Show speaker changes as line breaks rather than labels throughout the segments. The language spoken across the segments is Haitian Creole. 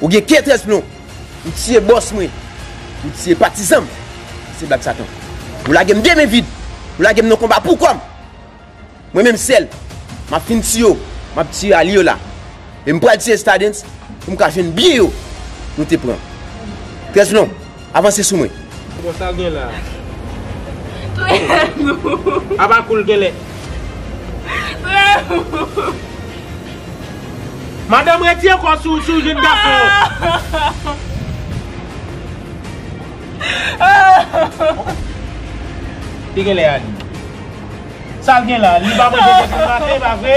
Ou gen ke trèz plon. Ou tiye bòs mwen. Ou tiye patizan m. Se blag sa ton. Ou lage m de men vid. Ou lage m nan konba pou kò m. Mwen menm sèl. M ap fin tiye w. M ap tiye Aliola. E m pral tiye Stadens pou m ka jwenn byen yo nou te pran. Trèz plon. Avanse sou mwen. Bon sa gen la.
Touyem non. Aba koul genlè. Touyem non. Madanm retire kòw sou jèn gason an. Li genlè ale. Sal gen la. Li pa manje tèt li maten pa vre.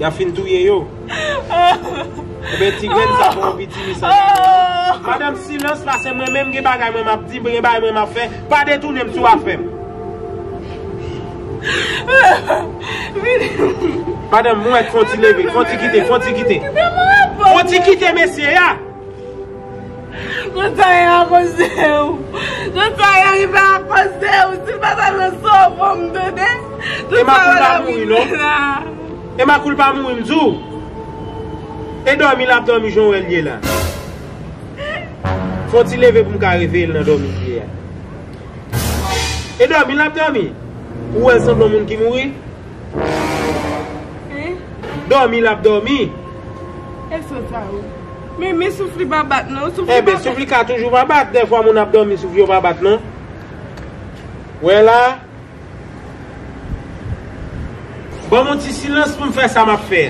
Yap fin touye yo. Ebyen ti grenn sa pa yon pitimi san grenn non. Madanm silans la se mwen menm gen bagay mwen map di, gen bagay mwen map fè, pa detounenm sou afèm. Madanm mwen fon ti leve, fon ti kite, fon ti kite. Fon ti kite mesye ya.
Kont sa ye akosew. Kont sa ye rive akosew. Sil pa ta nan san w fom tande. Tout sa yo
la vin vre la. Emma koul pa mouri m diw. E domi lap domi jan w wel ye la. Fon ti leve pou m ka reveye l nan domi li ye a. E domi lap domi. Ou wel sanble yon moun ki mouri. Domi lap domi. E son
sa ou. Men men souf li pa bat non. Souf li pa bat. E men souf li ka toujou pa
bat. De fwa moun ap domi souf yo pa bat non. Ou e la. Ban moun ti silans pou m fè sa map fè.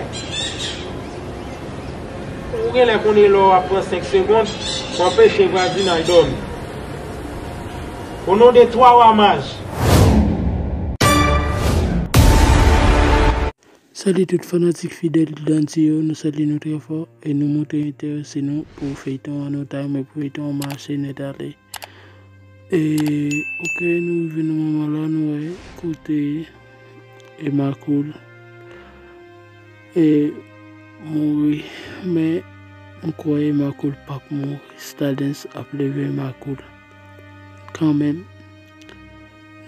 Ou gen lè konnen lò ap pran 5 segond. Ou ap fè chen vwazin al domi. O non
de twa wa maj. Salut tout fanatik fidèl Dante yo nou salye nou trè fò e nou montre entèrese nou pou feyton an nou ta renmen pou feyton an mache nèt ale e ok nou rive nan moman la nou wè kote Emma cool e mouri men m kwè Emma cool pap mouri Stardens ap leve Emma cool. Kanmenm,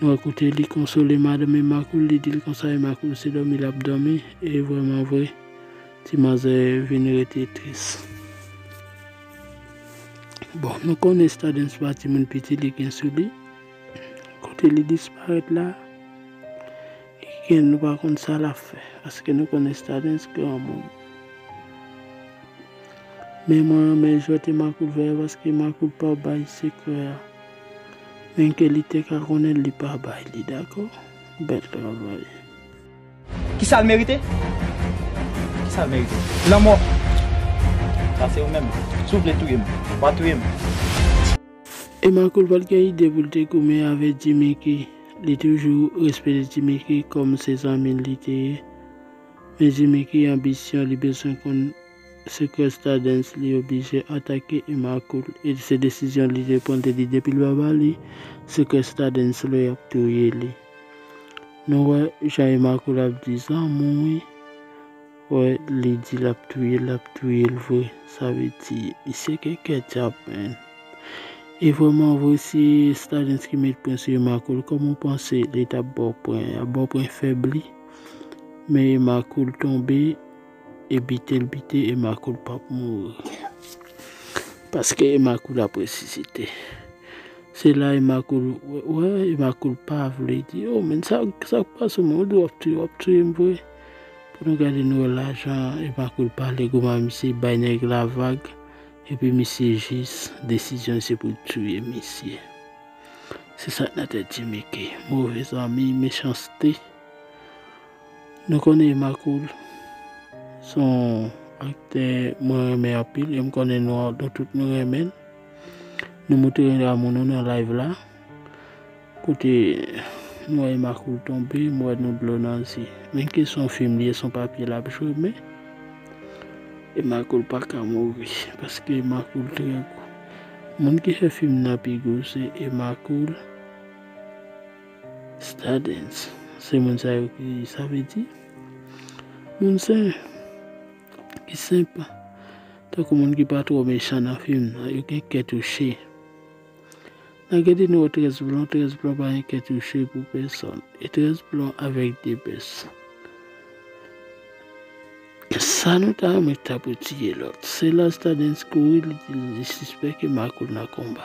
nou wè kote li konsole madanm Emma Cool, li di l konsa, Emma Cool se dòmi l ap dòmi, e vrèman vre, ti manzè vin rete tris. Bon, nou konnen Stardens pa timoun piti li gen sou li, kote li disparèt la, nou pa konn sa l ap fè, paske nou konnen Stardens granmoun. Men mwen renmen jwète makout vè a paske makout pa bay sekrè a. Menm ke li te ka konnen l li pa bay li dakò. Bèl travay.
Kisa l merite? Kisa l merite? Lanmò! Sa se ou menm. Si w vle touye m, wa touye m.
E makout pat gen ide pou l te goumen avè Djimiki. Li toujou respete Djimiki kòm se zanmi l li te ye. Men Djimiki anbisyon li bezwen konn. Se kè Stardens li oblije atake Emma Cool e se desizyon li dwe pran te di depil pa ba li se kè Stardens lo yap touye li nou wè jan Emma Cool ap di zanmou wi wè li di lap touyel lap touyel vre sa vle di misye gen kè dyab menn e vrèman vre si Stardens ki met pren sou Emma Cool kòman ou panse li tap baw pren yap baw pren fèb li men Emma Cool tonbe. E bite l bite Emma Cool pap mouri paske Emma Cool ap resisite se la Emma Cool wè Emma Cool pa vle di yo men sa sak pase w menm ou di wap touye wap touye m vre pou nou gade nou wè lajan Emma Cool pale kouman misye bay nèg la vag epi misye jis desizyon l se pou l touye misye se sak nan tèt Jimmy K move zanmi mechanste. Nou konnen Emma Cool se yon aktè mwen renmen anpil e m konnen nou tout nou renmen l. Nou montre amou nou nan live la. Kote m wè Emma Cool tonbe, m wè nou dlo nan zye. Menm ke se yon fim li ye, se yon papye l ap jwe men Emma Cool pa ka mouri paske Emma Cool trè gou. Moun ki fè fim nan pi gou se Emma Cool. Stardens se moun sa yo ki sa vle di moun sen ki senp tankou moun ki pa twò mechan nan fim nan yo gen kè touche nan gade nou wè 13 blon 13 blon pa gen kè touche pou pèsòn e 13 blon avèk depès sa nou ta renmen ki ta pou tiye lòt se la stadens kouri li di li sispèk e makout nan konba.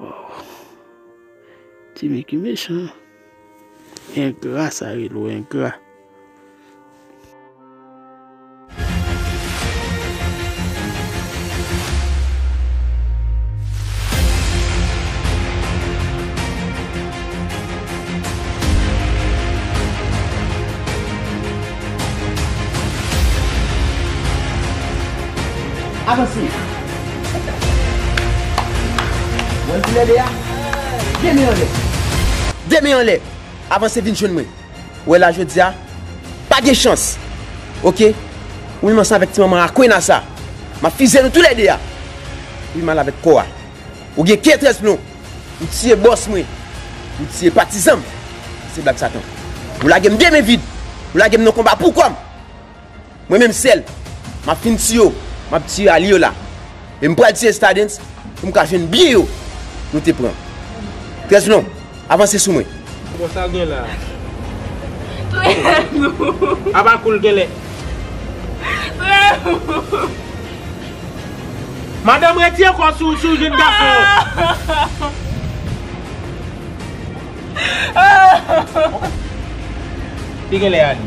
Waww Ti Miki mechan engra sa rele w engra.
Avanse! Wè l kou lè 2 a? 2 men anlè! 2 men anlè! Avanse vin jwenn mwen! Wè la jodi a, pa gen chans! Ok! Ou menm ansanm avèk ti manman Akwena sa, m ap fizye nou tou lè 2 a! Ou vin mal avèk kò a! Ou gen kè 13 plon! Ou tiye bòs mwen! Ou tiye patizan m! Se blag Satan! Ou lage m 2 men vid! Ou lage m nan konba pou kò m! Mwen menm sèl, m ap fin tiye w, m ap tiye alye w la. E m pral tiye Stardens pou m ka jwenn byen yo nou te pran. Trèzlon, avanse sou mwen. Bon, sa gen la a?
Trèzlon. Aba kou l gen lè. Trèzlon. Madanm retire kò w si w jèn gason. Li gen lè alye.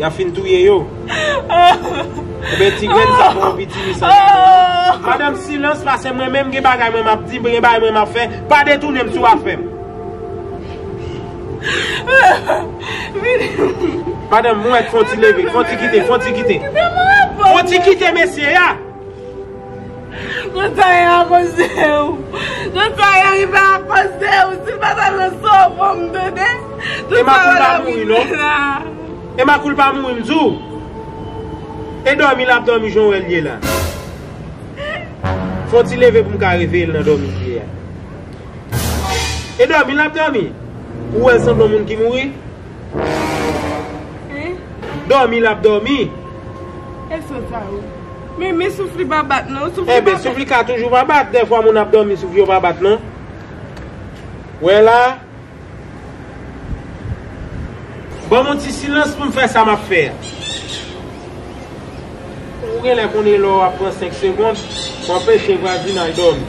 Yap fin touye yo. Ebyen ti grenn sa pran pitimi sa nan men nou. Madame silans la se mwen menm gen bagay mwen map di, gen bagay mwen map fè, pa detounem sou afèm. Madame mwen fon ti leve, fon ti kite, fon ti kite. Fon ti kite mesye ya.
Tout sa ye akoz de ou. Tout sa ye rive akoz de ou. Si l pa ta nan san w pou m tande. Tout sa yo ta fin
deja. Emma kou l pa mouri m di w. E dòmi l ap dòmi jan w wè l ye la. Fon ti leve pou m ka reveye l nan dòmi l ye a. E dòmi l ap dòmi. Ou wè l sanble yon moun ki mouri. Domi lap domi. E
sot sa yo. Men men souf li pa bat non. Souf li pa bat. Enben souf li ka
toujou pa bat. Dèfwa moun ap domi souf yo pa bat non. Ou wè la. Banm yon ti silans poum fè sa map fè a. Ou gen lè konnen lè wap pran 5 segond. Pou anpeche vwazinay domi.